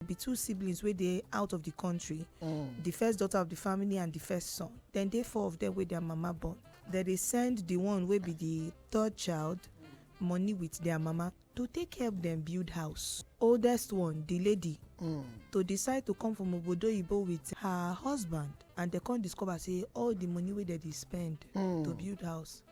be two siblings wey dey out of di kontri mm. di first daughter of di family and di first son dem dey four of dem wey dia mama born dem dey send di one wey be di third child money with their mama to take help them build house oldest one the lady mm. to decide to come from obodo oyibo with her husband and they come discover say all the money wey dem dey spend mm. to build house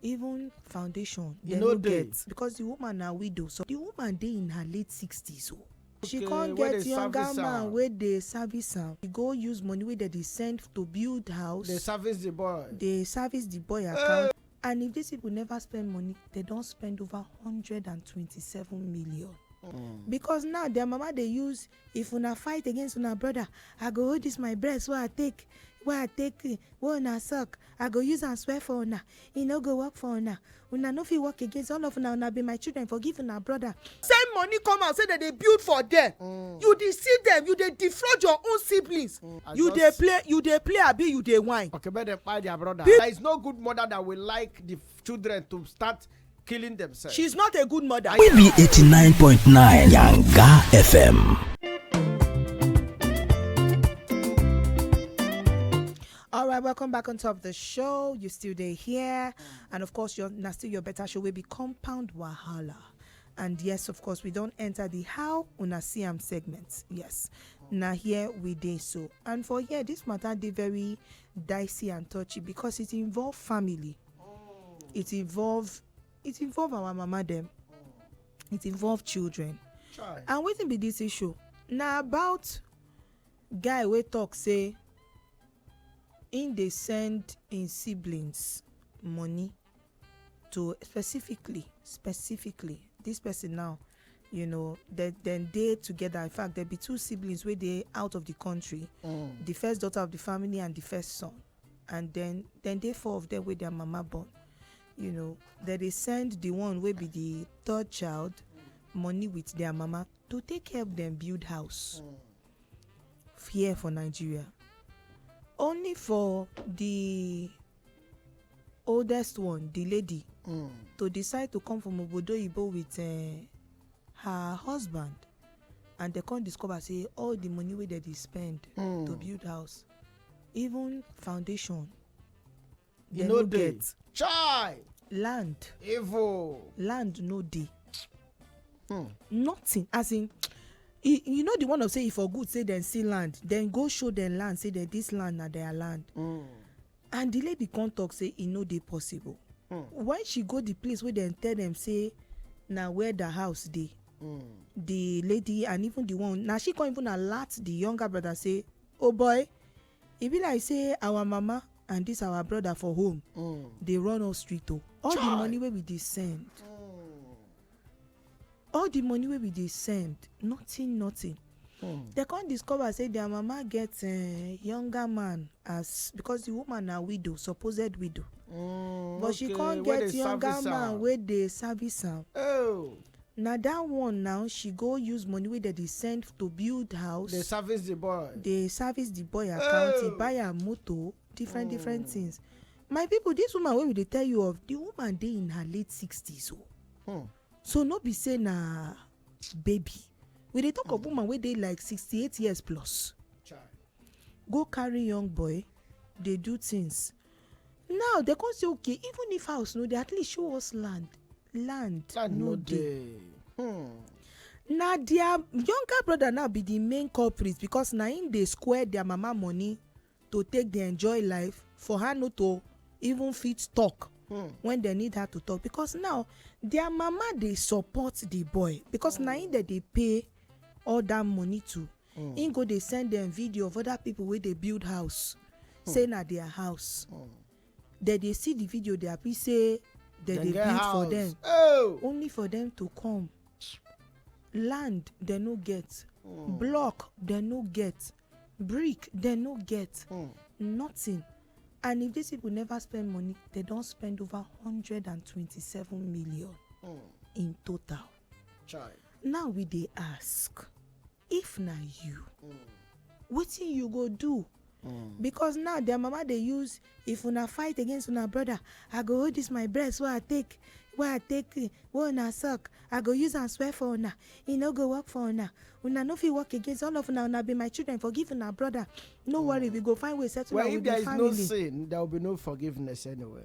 even foundation e dem no get because the woman na widow so the woman dey in her late sixties o oh. she come get younger man wey dey service am she go use money wey dem dey send to build house dey service the boy dey service the boy eh. account and if these people never spend money they don spend over hundred and twenty-seven million mm. because now their mama dey use If una fight against una brother, I go hold this my breast wey I take wey I take wey una suck, I go use am swear for una, e no go work for una. Una no fit work against all of una, una be my children, forgive una brother. Send money come out say dem dey build for there, you deceive them, you dey defraud your own siblings. I You dey just- play, you dey play abi you dey whine? Okay, make them kpai their brother. There is no good mother that will like the children to start killing themselves. She's not a good mother. We be 89.9 Yanga FM. All right, welcome back on top of the show. You still there here, and of course, you're now still your better show will be compound wahala. And yes, of course, we don't enter the how una see am segment. Yes, now here we dey so, and for here this matter dey very dicey and touchy because it involve family. Mm. It involves it involve our mama them. Mm. It involve children. Try. And wetin be this issue? Na about guy wey talk say im dey send im siblings money to specifically specifically this person now you know dem dem dey together in fact there be two siblings wey dey out of the country mm. the first daughter of the family and the first son and then then dey four of them wey their mama born you know dem dey send the one wey be the third child money with their mama to take help them build house here for nigeria only for the oldest one the lady Mm. to decide to come from obodo oyibo with uh, her husband and they come discover say all the money wey dem dey spend Mm. to build house even foundation e dem no no dey get chai land evil land no dey Hmm. nothing as in e- you know the one of say e for good say dem see land dem go show dem land say dem this land na their land Hmm. and the lady come talk say e no dey possible Hmm. when she go the place wey dem tell dem say na where the house dey Hmm. the lady and even the one na she come even alert the younger brother say oh boy e be like say our mama and this our brother for home mm. dey run us street o oh. all the money wey we dey send mm. all the money wey we dey send nothing nothing hmm. dem come discover say their mama get eh, younger man as because the woman na widow supposed widow hmm, but she come get younger man wey dey service am oh. Na that one now she go use money wey dem dey send to build house. Dey service the boy. Dey service the boy account, e buy am moto, different different hmm. things. My people, this woman wey we dey tell you of, the woman dey in her late sixties o. Oh. Hmm. So no be say na baby. We dey talk of hmm. woman wey dey like sixty-eight years plus. Child. Go carry young boy dey do things now dem come say okay even if house no dey at least show us land land no dey hmm. na their younger brother now be the main culprit because na him dey square their mama money to take dey enjoy life for her no to even fit talk hmm. when dem need her to talk because now their mama dey support the boy because na him dem dey pay all that money to hmm. im go dey send dem video of other people wey dey build house hmm. say na their house hmm. dem dey see the video dey happy say dem dey build for dem oh! only for dem to come land dem no get block dem no get brick dem no get nothing and if these people never spend money they don spend over hundred and twenty-seven million in total Chai. Now we dey ask if na you mm. wetin you go do Mm. because now their mama dey use if una fight against una brother i go hold this my breast wey i take wey i take eh, wey una suck i go use am swear for una e no go work for una una no fit work against all of una una be my children forgive una brother no mm. worry we go find way settle well, am with the family. well if there is no sin there will be no forgiveness anyway.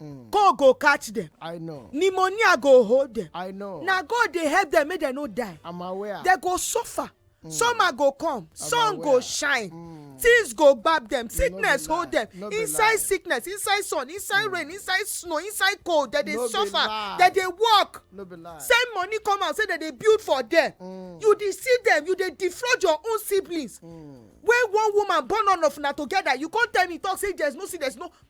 Mm. cold go catch them. i know pneumonia go hold them. i know na god dey help them make dem no die. i'm aware dem go suffer. Mm. summer go come sun aware. go shine. Mm. things go gbab them sickness no hold them no inside sickness inside sun inside mm. rain inside snow inside cold dem dey no suffer dem dey work no send money come out say dem dey build for them mm. you dey see them you dey defraud your own siblings mm. wey one woman born all of una together you come tell me talk say there's no see there's no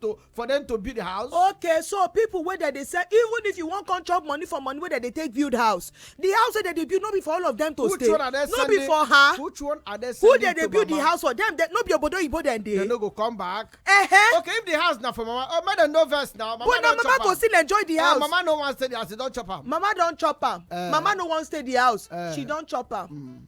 to for them to build house. okay so people wey dem dey sell even if you wan come chop money for money wey dem dey take build house the house wey dem dey build no be for all of them to which stay no be for her which one are they who dem dey build mama? the house for them they, no be obodo oyibo dem dey. dem no go come back. Uh -huh. okay if the house na for mama oh make dem no vex na mama but na mama go still enjoy the eh, house. Uh, mama no wan stay the house she don chop am. mama don chop am. Uh, mama no wan stay the house uh, she don chop am. Mm.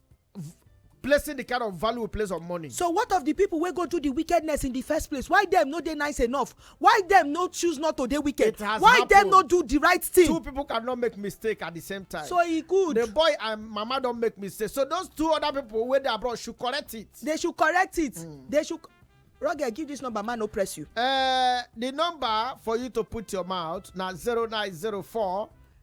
placing the kind of value we place on money. so what of the people wey go do the wickedness in the first place why dem no dey nice enough why dem no choose not to dey wicked why dem no do the right thing. two people cannot make mistake at the same time. so e good. the boy and mama don make mistake so those two other people wey dey abroad should correct it. they should correct it. Mm. they should roger give this number man no press you. Uh, the number for you to put your mouth na zero nine zero four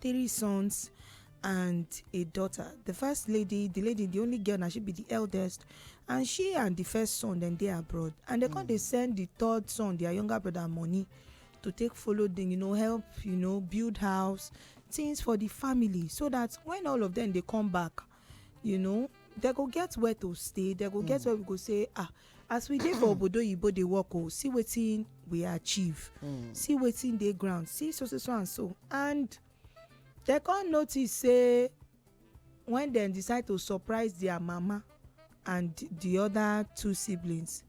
three sons and a daughter the first lady the lady the only girl na she be the eldest and she and the first son dem dey abroad and dem come dey send the third son their younger brother money to take follow them you know help you know build house things for the family so that when all of them dey come back you know they go get where to stay they go get mm. where we go say ah as we dey for obodo oyibo dey work o oh, see wetin we achieve mm. see wetin dey ground see so so so and so and they come notice say when dem decide to surprise their mama and the other two siblings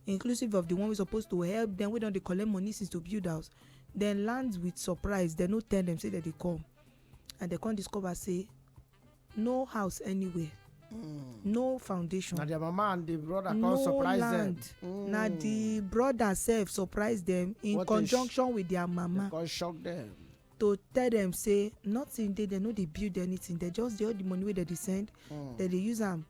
inclusive of the one wey suppose to help them wey don dey collect money since to build house dem land with surprise dem no tell them say dem dey come and dem come discover say no house anywhere mm. no foundation na their mama and the brother come no surprise land. them mm. na the brother sef surprise them in what conjunction with their mama come shock them to tell them say nothing dey dem no dey build anything dem just dey all the money wey dem dey send mm. dem dey use am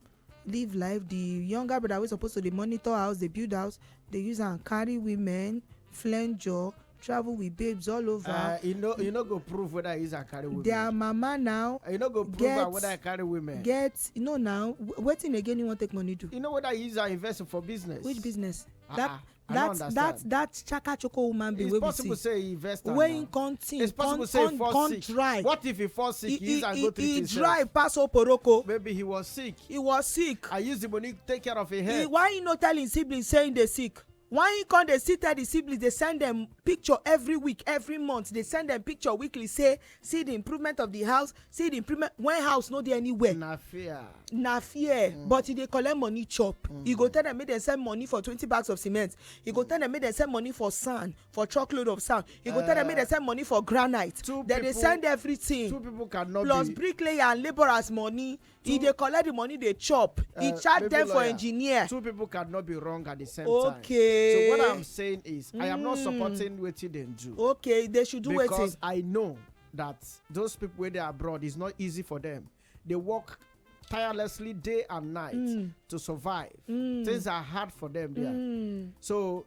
live life the younger brother wey suppose to dey monitor house dey build house dey use am carry women flenjo travel with babes all uh, over e no e no go prove whether he use am carry women their mama now e no go prove get- am whether he carry women get you know now wh- wetin again you wan take money do you know whether he use am invest for business which business Ah, that ah. I that that understand. that chaka choko woman be it's wey we possible see say he invest am wey na. him come think it's possible come say he come fall come sick try what if he fall sick he he use am go he treat he himself dry pass oporoko maybe he was sick he was sick i use the money take care of him he head why he no tell him siblings say he dey sick why he come dey still tell the siblings dey send them picture every week every month dey send them picture weekly say see the improvement of the house see the improvement when house no dey anywhere na fear na fear mm. but e dey collect money chop mm. e go tell them make dem send money for twenty bags of cement e go tell them make dem send money for sand for truckload of sand e go uh, tell them make dem eh. send money for granite dem dey send everything two people cannot plus be plus bricklayer and labourers money e dey collect the money dey chop e uh, charge them for engineer two people cannot be wrong at the same time okay so what i'm saying is i am not hmm. supporting wetin dem do okay they should do wetin because i know that those people wey dey abroad is not easy for them they work tirelessly day and night mm. to survive. Mm. Things are hard for them there. Mm. So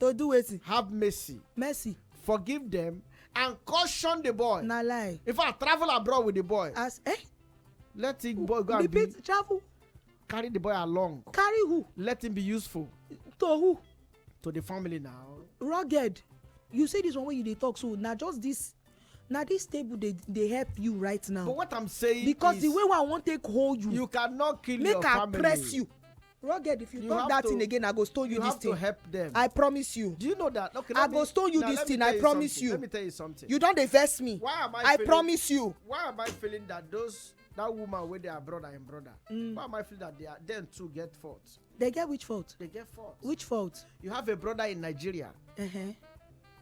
to do wetin have mercy mercy forgive them and caution the boy na lie in fact travel abroad with the boy as eh let the boy go and be repeat travel carry the boy along carry who let him be useful to who to the family now rugged you say this one wey you dey talk so na just this na this table dey dey help you right now but what i'm saying because is the way wey i wan take hold you you cannot kill your family make i press you rugged if you, you talk that to, thing again i go stone you, you this thing you have to help them i promise you do you know that okay i me, go stone you this thing i promise something. you let me tell you something you don dey vex me why am i i feeling, promise you why am i feeling that those that woman wey dey her brother im brother mm. why am i feeling that they are dem too get fault they get which fault they get fault which fault you have a brother in nigeria uh -huh.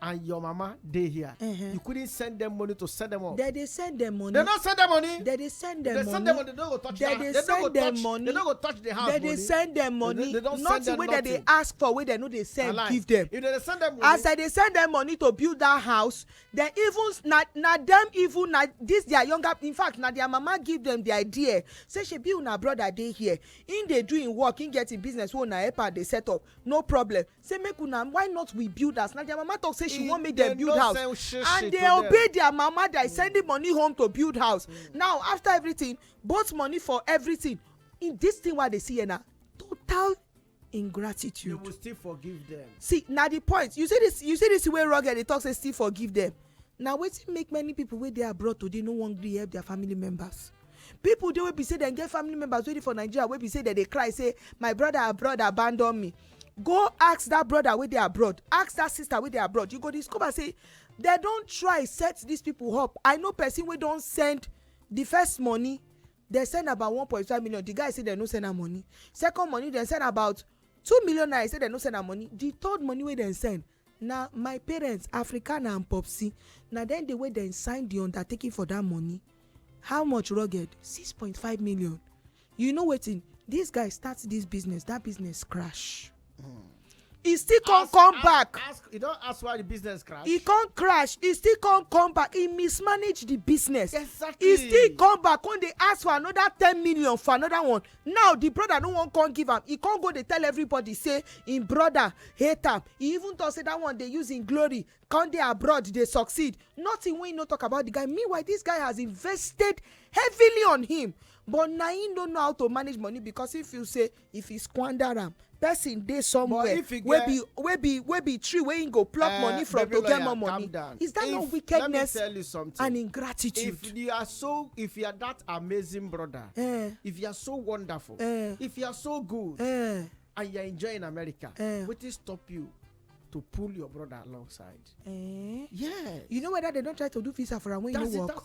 and your mama dey here uh -huh. you couldn't send them money to send them up. they dey send them money. they no send them money. they dey send them money. they send them money they no go touch they the they no go touch money. they no go touch the house they money. they dey send them money they, they don't nothing send them wey nothing. they dey ask for wey they no dey send Align. give them. if they dey send them money. as they dey send them money to build that house they even na na them even na this their younger in fact na their mama give them the idea say shebi una brother dey here him dey do him work him get him business wey una help am dey set up no problem say make una why not we build house na their mama talk say she wan make dem build house and they obey their mama they sending money home to build house now after everything both money for everything in this thing wey i dey see here na total ingratitude. you will still forgive them. see na the point you see this you see this way rugged dey talk say still forgive them na wetin make many people wey dey abroad today no wan gree help their family members people dey wey be say dem get family members wey dey for nigeria wey be say dem dey cry say my brother abroad abandon me go ask that brother wey dey abroad ask that sister wey dey abroad you go discover say dem don try set these people up i know person wey don send the first money dem send about one point five million the guy say dem no send am money second money dem send about two million naira say dem no send am money the third money wey dem send Na my parents, Africana and Popsi, na dem dey wey dem sign di undertaking for dat money. How much rugged? Six point five million. You know wetin? Dis guy start dis business, dat business crash. E still come Ask- come ask- back. Ask, you don ask why the business crash? E come crash, e still come come back, e mismanage di business. Exactly. E still come back, come dey ask for another ten million for another one. Now the brother no wan come give am, he come go dey tell everybody say him brother hate am. He even talk say that one dey use him glory come dey abroad dey succeed. Nothing wey he no talk about the guy. Meanwhile, this guy has invested heavily on him but na him no know how to manage money because he feel say if he squander am, person dey somewhere wey be wey be wey be tree wey him go pluck eh, money from to get more money is that not wickedness and ingratitude. if you are so if you are that amazing brother eh. if you are so wonderful eh. if you are so good and you are enjoying america wetin stop you to pull your brother alongside. Eh? Yeah. You know whether they don't try to do visa for am when you no work.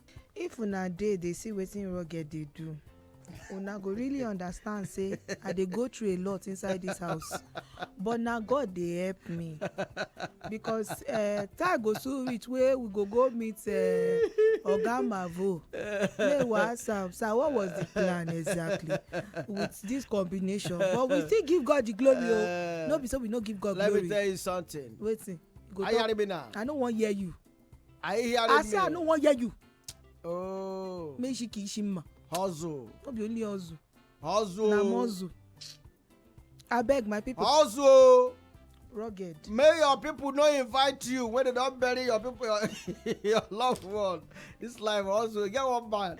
if una dey dey see wetin rugged dey do una go really understand say i dey go through a lot inside this house but na god dey help me because uh, time go soon reach wey we go go meet uh, oga mavo wey we ask am sir what was the plan exactly with this combination but we still give god the glory o oh. no be so we no give god let glory let me tell you something wetin go talk i no wan hear you I hear I say I no wan hear you. Oh. Make she kill Shima. Hustle. No be only hustle. Hustle. Na muscle. Abeg my people. Hustle. Rugged. May your people no invite you when they don bury your people, your, your loved one. This life hustle. Get one man.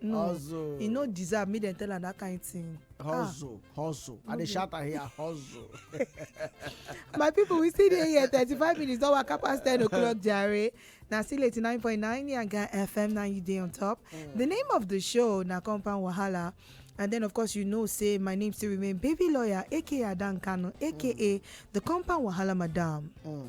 no hustle e no deserve make dem tell am that kind thing. Ah. hustle ah. hustle i dey shout am here hustle. my people we still dey here thirty-five minutes don waka pass ten o'clock jare na still eighty-nine point nine yanga fm na you dey on top mm. the name of the show na compound wahala And then, of course, you know, say my name still remain Baby Lawyer, aka Adan Kano, aka mm. the Compound Wahala Madam. Mm.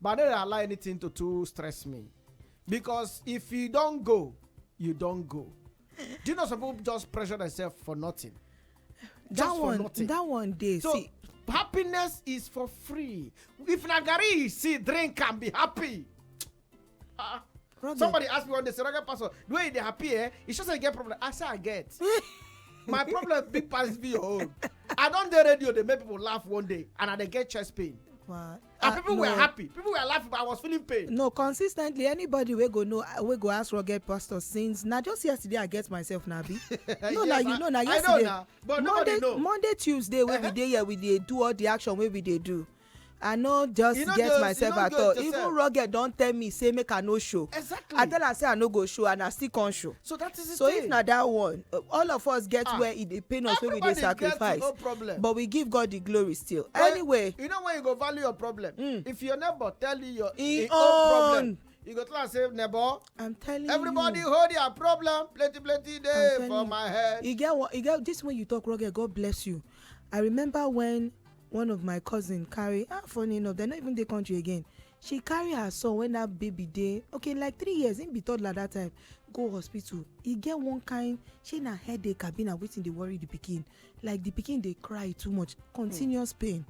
but i no dey allow anything to too stress me because if you don go you don go do you know some people just pressure themselves for nothing that just for one nothing that one dey so see happiness is for free if na garri you see drink and be happy ah Robert, somebody ask me one day say rugged pastor the way you dey happy eh e sure say you get problem i say i get my problem big pass be your own i don dey radio dey make people laugh one day and i dey get chest pain wow and uh, people no. were happy people were laughing but i was feeling pain. no consistently anybody wey go know wey go ask rugged pastor since na just yesterday i get myself na bi. no na you know na yesterday I know na, but monday know. monday tuesday wey we dey here we dey do all the action wey we dey do i no just you know get those, myself you know at all yourself. even rugged don tell me say make i no show exactly. i tell am say i no go show and i still come show. so that is the so thing. if na that one uh, all of us get ah, where e dey pain us wey we dey sacrifice no problem. but we give god the glory still well, anyway. you know when you go value your problem. Mm. if your neighbor tell you your im own problem you go tell am say neighbor. i'm telling everybody you everybody hold their problem plenty plenty dey for you. my head. e get one e get this one you talk wrong god bless you i remember when one of my cousin carry ah funny enough they no even dey country again she carry her son when that baby dey okay like three years him be toddler that time go hospital e get one kind shey na headache abi na wetin dey worry the pikin like the pikin dey cry too much continuous pain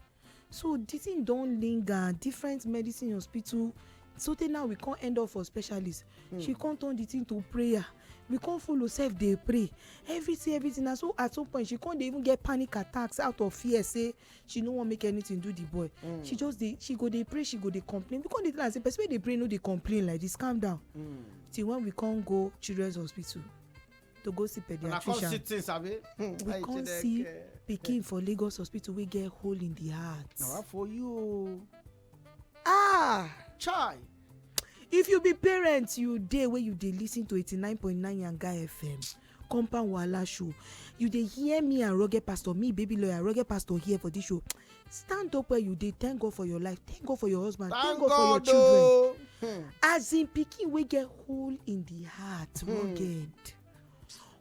so the thing don linger different medicine hospital so tey now we come end up for specialist hmm. she come turn the thing to prayer we come follow sef dey pray everything everything na so at some point she come dey even get panic attacks out of fear say she no wan make anything do the boy mm. she just dey she go dey pray she go dey complain we come dey tell am say person wey dey pray no dey complain like this calm down mm. till when we come go children's hospital to go see pediatrician we come see we come see pikin for lagos hospital wey get hole in the heart. na wa for you o. ah chai if you be parent you dey wey you dey lis ten to eighty nine point nine yanga fm compound wahala show you dey hear me and rugged pastor me baby lawyer rugged pastor here for this show stand up where you dey thank god for your life thank god for your husband thank, god, for your children oh. Hmm. as in pikin wey get hole in the heart hmm. rugged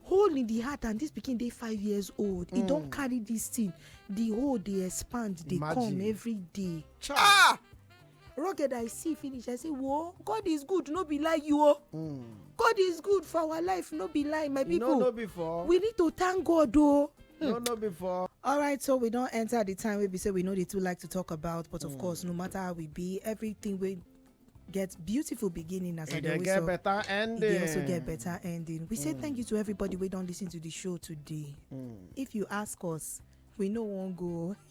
hole in the heart and this pikin dey five years old e don hmm. carry this thing the hole dey expand dey come every day. ah rugged i see finish i say whoa god is good no be lie you o hmm. god is good for our life no be lie my people no be for we need to thank god o hmm. no no be for all right so we don enter the time wey be say we no dey too like to talk about but of hmm. course no matter how we be everything wey get beautiful beginning as e dey get better ending e dey also get better ending we say thank you to everybody wey don listen to the show today if you ask us we no wan go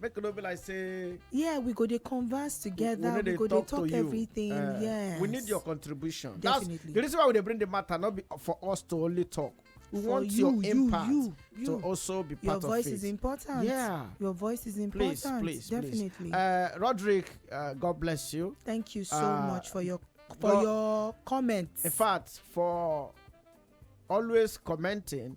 make no be like say yeah we go dey converse together we, we go dey talk, everything uh, yes we need your contribution Definitely. that's the reason why we dey bring the matter not be for us to only talk we for want you, your impact you, you, to also be part of it. Your voice is important. Yeah. Your voice is important. Please, please, Definitely. Please. Uh, Roderick, uh, God bless you. Thank you so uh, much for your for God, your comments. In fact, for always commenting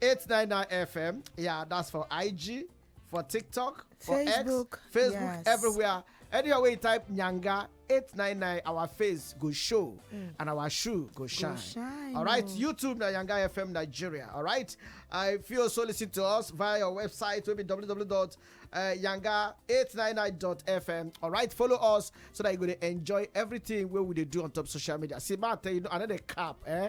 899 FM. Yeah, that's for IG, for TikTok, for Facebook, X, Facebook, yes. everywhere. Anywhere we type Nyanga 899, our face go show mm. and our shoe go shine. Go shine. All right, oh. YouTube na Nyanga FM Nigeria. All right. Uh, if you also listen to us via your website, will be www.yanga899.fm. Uh, All right, follow us so that you're going to enjoy everything where we do on top social media. See, man, tell you, another cap, eh?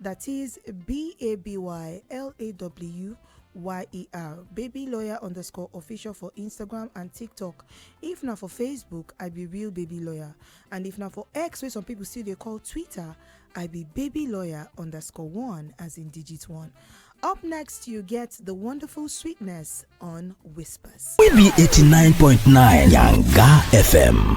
That is B A B Y L A W Y E R. Baby lawyer underscore official for Instagram and TikTok. If na for Facebook, I be real baby lawyer. And if na for X, where some people still they call Twitter, I be baby lawyer underscore one as in digit one. Up next, you get the wonderful sweetness on Whispers. We be 89.9 Yanga FM.